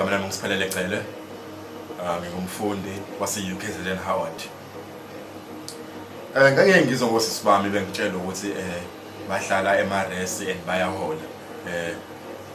igama lami ngisiphelele cele ah, ngingumfundi wase-ukzn howard um eh, ngake ngizwa ngosisi bami bengitshela ukuthi um bahlala emaresi and bayahola um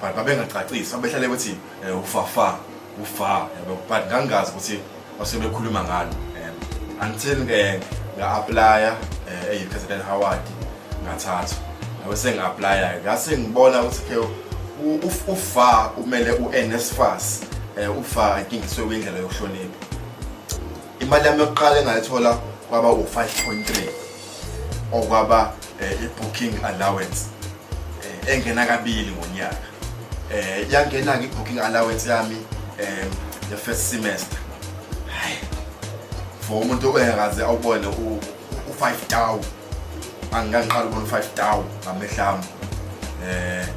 but babengacacisi babehlale ukuthi um ufafa ufa yabo but ngangingazi ukuthi osebekhuluma ngalo um until ke nga-aplaya um eyi-president howard ngathathu nawe sengi-aplaya-ke ngase ngibona ukuthi ke ufa umele u-nsfas um eh, ufa inkingiswe kwindlela yokuhlonipha imali yami yokuqala engayithola kwaba u-5 point 3 okwaba um eh, i-booking allowance eh, engena kabili ngonyaka eh yangena ke booking allowance yami eh the first semester hayi for umuntu ongakaze awubone u 5000 angikangiqala ubona 5000 ngamehlami eh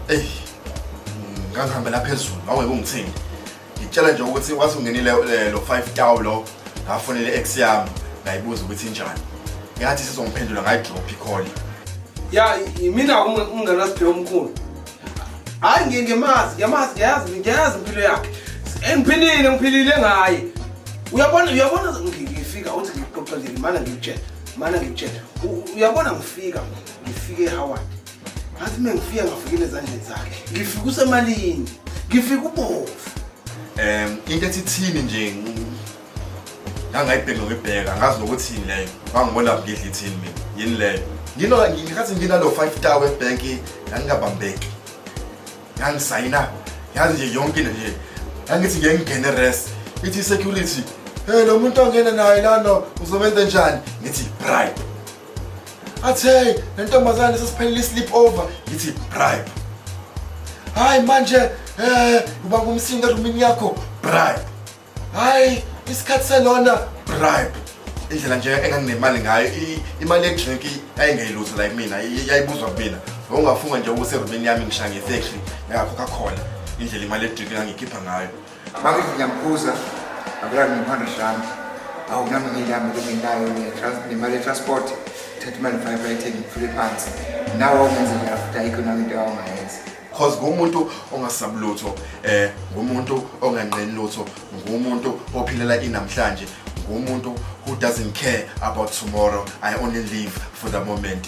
eh ngangihambela phezulu aweke ungithini ngitshela nje ukuthi wasungenile eh, lo 5 tawu lo ngafonele ex yami ngayibuza ukuthi injani yathi sizongiphendula ngayidrop ikhona ya yimina umngane wasiphiwe omkhulu hayi ngiye ngiyamazi ngiyamazi ngiyazi ngiyazi impilo yakhe engiphilile ngiphilile ngaye uyabona uyabona ngifika uthi ngixoxelile mana ngikutshela mana ngikutshela uyabona ngifika ngifike ehaward ngathi mina ngifika ngafikile ezandleni zakhe ngifika usemalini ngifika ubovu um into ethi thini nje ngangayibheki nokuyibheka ngazi nokuthi yini leyo ngangibona ngidla ithini mina yini leyo nginola ngikhathi nginalo five star webhank ngangingabambeki ngangisayina yazi nje yonke into nje ngangithi ngeke ngingene rest ithi security hey lo muntu ongena naye lana uzobenza njani ngithi bribe athi hey le ntombazane sesiphelile i-sleep over ngithi bribe hayi manje um uba ngumsindo erumini yakho bribe hayi isikhathi selona bribe indlela nje enganginemali ngayo imali yedrink yayingeyilutho la kumina yayibuzwa kumina ngokungafunga nje ukuthi erumini yami ngishange efekri ngakhokha khona indlela imali yedrink engangikhipha ngayo Bakithi ngiyamkhuza akulani ngiphanda shami awu nami ngiyami bengenayo nemali yetransport thatha imali five ayithengi ngifule phansi nawe ungenzeka after ayikho nami into awungayenza cause ngumuntu ongasabi lutho eh ngumuntu onganqeni lutho ngumuntu ophilela inamhlanje ngumuntu who doesn't care about tomorrow i only live for the moment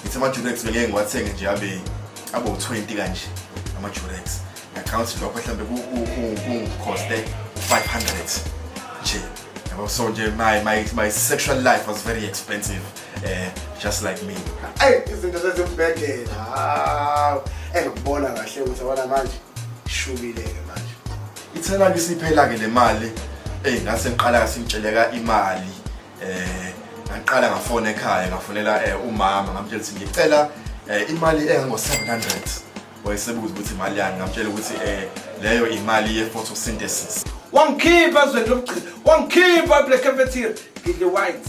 Ngithe ama-durex bengeke ngiwathenge nje abe abe u-20 kanje ama-durex ngacanga ukuthi lokho mhlawumbe kungikhoste u-500 nje yabo so nje my, my, my sexual life was very expensive uh, just like me eyi izinto zezibhedela hawu engikubona kahle ukuthi abona manje ishubile-ke manje ithelani isiphela-ke le mali eyi ngase ngiqala-ke singitsheleka imali eh ngaqala ngafona ekhaya ngafonela eh, umama ngamtshela ukuthi ngicela eh, imali engango-700 wayesebuza ukuthi imali yani ngamtshela ukuthi eh, leyo imali ye-photosynthesis wangikhipha ezweni lobugcina wangikhipha eblack cafeteria ngidle white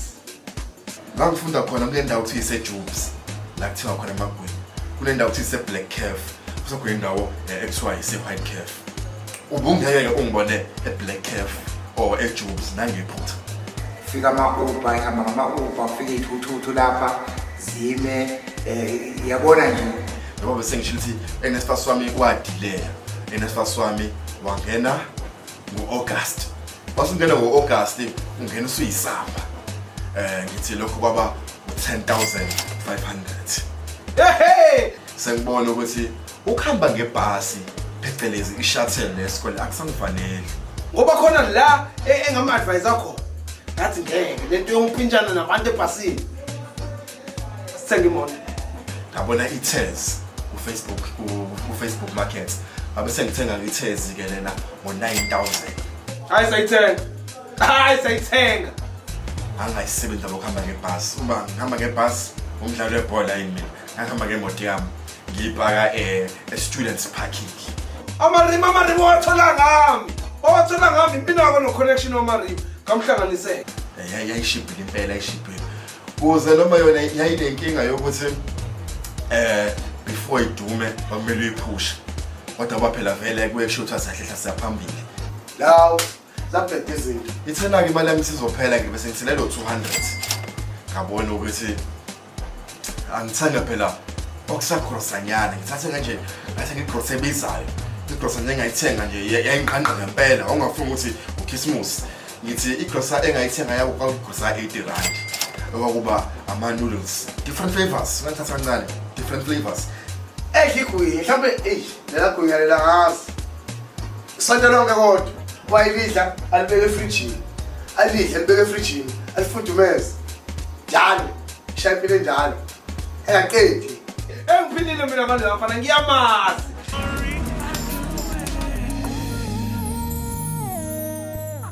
ngangifunda khona kule ndawo kuthiwa isejubes la kuthiwa khona amagwini kule ndawo kuthiwa iseblack caf kusekhona indawo eh, ekuthiwa ise-white caf Ubungeke ungibone eBlack Cave or eJubes nangephutha. Fika ama-Uber ihamba ngama-Uber kufika iy'thuthuthu lapha zime eh yabona nje Ngoba bese ngisho ukuthi enesifasi wami wadileya. Enesifasi wami wangena ngo-August. Wasungena ngo-August ungena usuyisamba. Eh ngithi lokho kwaba u-10500. Ehhe! Sengibona ukuthi Ukuhamba ngebhasi phecelezi i-shuttle nesikwele akusangifanele. Ngoba khona la e- engama-advise akho ngathi ngeke le nto yokuphintshana nabantu ebhasini. Sithenga imoto. Ngabona i-Tez ku-Facebook ku- ku-Facebook Market. Ngabe sengithenga i-Tez ke lena ngo-9000. Hayi sayithenga. Hayi sayithenga. Angayisebenza lokuhamba ngebhasi. Uma ngihamba ngebhasi umdlalo webhola yini mina. Ngihamba ngemoto yami. ngibhaka eh, e-students parking amarima amarima owathola ngami owathola ngami impinako no-connection wamarima ngamhlanganisela Ya- yayishibhile impela yayishibhile kuze noma yona yayinenkinga yokuthi eh before idume kwakumele uyiphushe kodwa kwaphela vele kuye kusho ukuthi asahlehla siyaphambili law Zabheda izinto. Ithena-ke imali yami isizophela ngibe sengisele lo 200. Ngabona ukuthi angithanda phela okusagrosanyana ngithathe kanje ngathi ngigrose ebizayo igrosa nje engayithenga nje yayinqanqa ngempela ongafuni ukuthi ukhisimusi ngithi igrosa engayithenga yabo kwakugrosa 80 rand okwakuba ama-noodles different flavors ngathatha kancane different flavors eyi higuye mhlawumbe eyi lelagwinya lelakazi sonto lonke kodwa wayilidla alibeke efrijini alidle alibeke efrijini alifudumeze njalo ishaya impilo enjalo engaqedi engiphilile mina manje lafana ngiyamazi